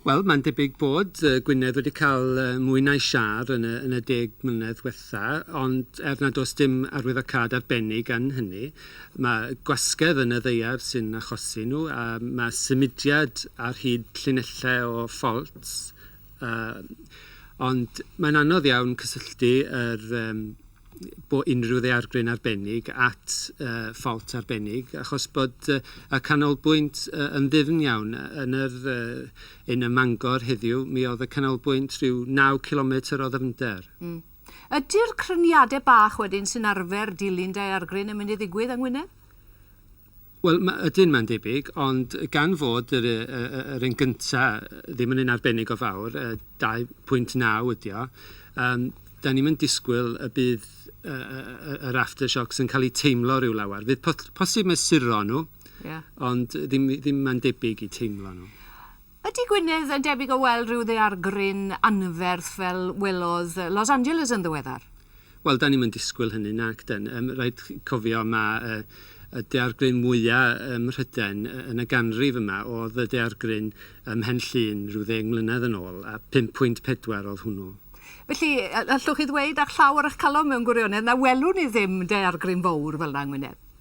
Wel, mae'n debyg bod Gwynedd wedi cael mwy na'i siâr yn y, yn y deg mlynedd diwetha, ond er nad oes dim arwyddocâd arbennig yn hynny, mae gwasgedd yn y ddaear sy'n achosi nhw, a mae symudiad ar hyd llinellau o ffalts, ond mae'n anodd iawn cysylltu yr, bod unrhyw ddeargryn arbennig at ffawt arbennig, achos bod y canolbwynt yn ddyfn iawn. Yn yr un ym Mangor heddiw, mi oedd y canolbwynt rhyw naw cilometr o ddyfnder. Ydy'r cryniadau bach wedyn sy'n arfer dilyn daeargryn yn mynd i ddigwydd yng Ngwynedd? Wel, ma'... ydyn, mae'n debyg, ond gan fod yr yy yr un gynta' ddim yn un arbennig o fawr, yy 2.9 ydy o, yym 'dan ni'm yn disgwyl y bydd yy yy yr aftershocks yn cael eu teimlo ryw lawer. Fydd po- posib mesuro nhw... Ie. ...ond ddim ddim mae'n debyg eu teimlo nhw. Ydy Gwynedd yn debyg o weld rhyw ddaear gryn anferth fel welodd Los Angeles yn ddiweddar? Wel, dan ni'm yn disgwyl hynny, nac dan. Yym, rhaid chi cofio ma' y y daear gryn mwya' ym Mhrydain y- yn y ganrif yma o'dd y daear gryn ym Mhen Llŷn ryw ddeng mlynedd yn ôl, a 5.4 o'dd hwnnw. Felly, y- allwch chi ddweud â llaw ar 'ych calon mewn gwirionedd na welwn ni ddim daear gryn fowr fel 'na yng Ngwynedd?